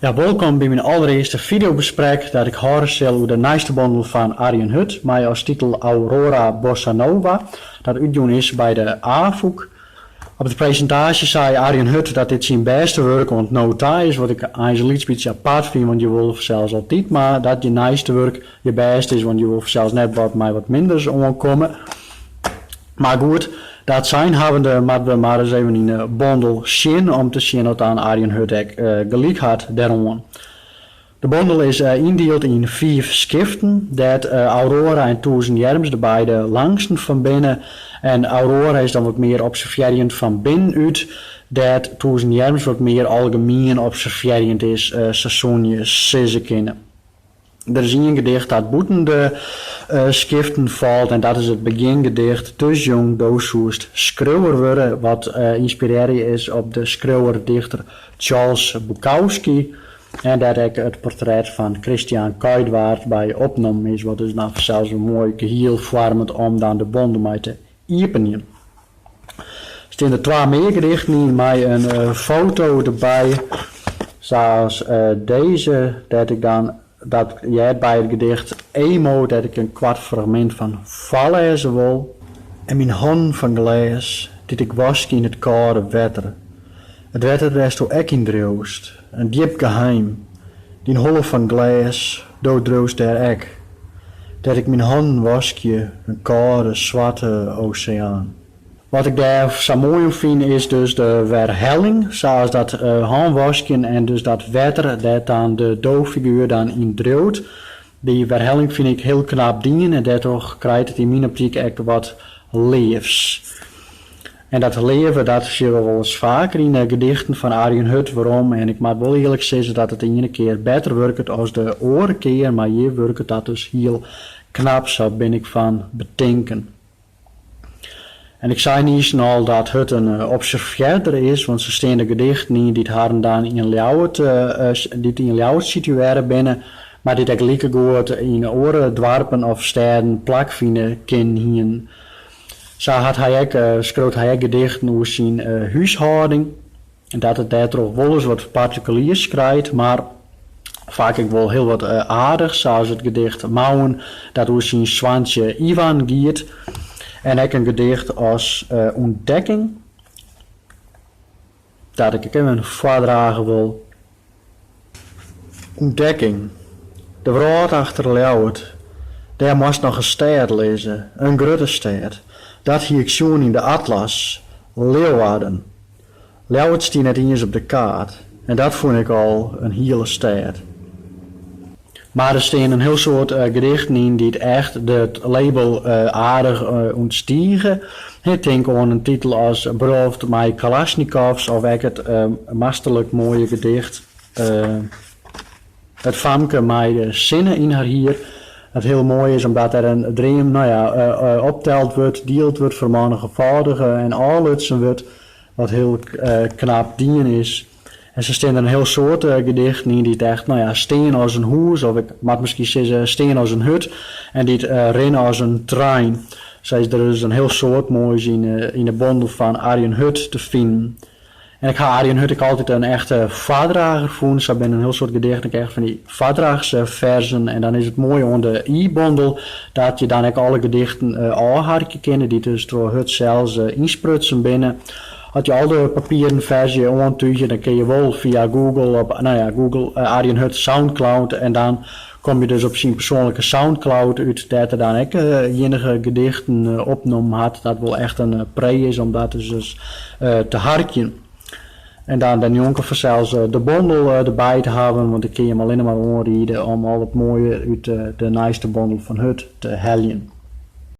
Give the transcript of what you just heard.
Ja, wolkom by myn allerearste fideobesprek dat ik hâlde sil oer de nijste bondel fan Arjen Hut mei as titel Aurora Bossa Nova, dat útjûn is by de Afûk. Op de presintaasje sei Arjen Hut dat dit syn bêste wurk oant no ta is, wat ik eins in lyts bytsje apart fyn, want je wolle fansels altyd mar dat je nijste wurk Je bêst is, want je wol fansels net wat mei wat minders oankomme. Mar goed, dat sein hawwende moatte we mar ris even yn 'e bondel sjen om te sjen oft Arjen Hut ek gelyk hat dêroan. De bondel is yndield yn fiif skiften, dêr't Aurora en Tûzen Jerms de beide langsten fan binne. En Aurora is dan wat mear observearjend fan binnen út, dêr't Tûzen Jerms wat mear algemien observearjend is, sa soene je sizze kinne. Der is ien gedicht dat bûten de skiften falt en dat is it begjingedicht Dus jong do soest skriuwer wurde, wat ynspirearje is op de skriuwer-dichter Charles Bukowski en dêr't ek it portret fan Christiaan Kuijtwaard by opnommen is, wat dus dan fansels in moai gehiel foarmet om dan de bondel mei te iepenjen. Steane der twa mear gedichten yn mei in foto derby, sa as dizze dêr't ik dan dat heart by it gedicht Emo dêr't ik in koart fragmint fan foarlêze wol. En myn hannen fan glês, dy't ik waskje yn it kâlde wetter, it wetter dêr'tst do ek yn driuwst. In djip geheim, dyn holle fan glês, do driuwst dêr ek. Dêr't ik myn hannen waskje, in kâlde, swarte oseaan. Wat ik dêr sa moai oan fyn is dus de werhelling, sa as dat hânwaskjen en dus dat wetter dêr't dan de do-figuer dan yn driuwt. Dy werhelling fyn ik hiel knap dien en dêrtroch krijt it yn myn optyk ek wat leafs. En dat leave dat sjogge we wolris faker yn de gedichten fan Arjen Hut werom en ik moat wol earlik sizze dat it de iene kear better wurket as de oare kear, mar hjir wurket dat dus hiel knap, sa bin ik fan betinken. En ik sei niiskes al dat Hut in observearder is, want sa steane der gedichten yn dy't harren dan yn Ljouwert, dy't yn Ljouwert situearre binne, mar dy't ek likegoed yn oare doarpen of stêden plak fine kinnen hienen. Sa hat hy ek, skriuwt hy ek gedichten oer syn húshâlding. En dat it dêrtroch wolris wat partikuliers krijt, mar faak ek wol hiel wat aardigs, sa as it gedicht Mouwen dat oer syn soantsje Ivan giet, en ek in gedicht as Ûntdekking dat ik ek even foardrage wol. Ûntdekking, De wrâld achter Ljouwert, dêr moast noch in stêd lizze, in grutte stêd. Dat hie ik sjoen yn de atlas, Leeuwarden. Ljouwert stie net iens op de kaart en dat fûn ik al in hiele stêd. Mar der stean ek in hiel soad gedichten yn dy't echt de label aardich ûntstige, hin. Tink oan in titel as Brulloft mei Kalasjnikovs of ek it masterlik moaie gedicht It famke mei de sinne yn har hier, dat hiel moai is omdat der in dream no ja opteld wurdt, dield wurdt, fermannigefâldige en ôflutsen wurdt, wat hiel knap dien is. En sa steane der in hiel soad gedichten yn dy't echt no ja, stean as in hûs, of ik moat miskien sizze, stean as in hut, en dy't rinne as in trein. Sa is der dus in hiel soad moais yn 'e bondel fan Arjen Hut te finen. En ik ha Arjen Hut ek altyd in echte foardrager fûn. Sa binne in hiel soad gedichten ek echt fan dy foardrachsferzen. En dan is it moaie oan de e-bondel dat je dan ek alle gedichten ôfharkje kinne, dy't dus troch Hut sels ynsprutsen binne. As je al de papieren ferzje oantúgje, dan kinne je wol fia Google op no ja, Google, Arjen Hut Soundcloud en dan kom je dus op syn persoanlike Soundcloud út dêr't er dan ek inkele gedichten opnommen hat, dat wol echt in pree is om dat dus ris te harkjen. En dan dêrnjonken fansels de bondel derby te hawwen, want ik kin jim allinne mar oanriede om al it moaie út de nijste bondel fan Hut te heljen.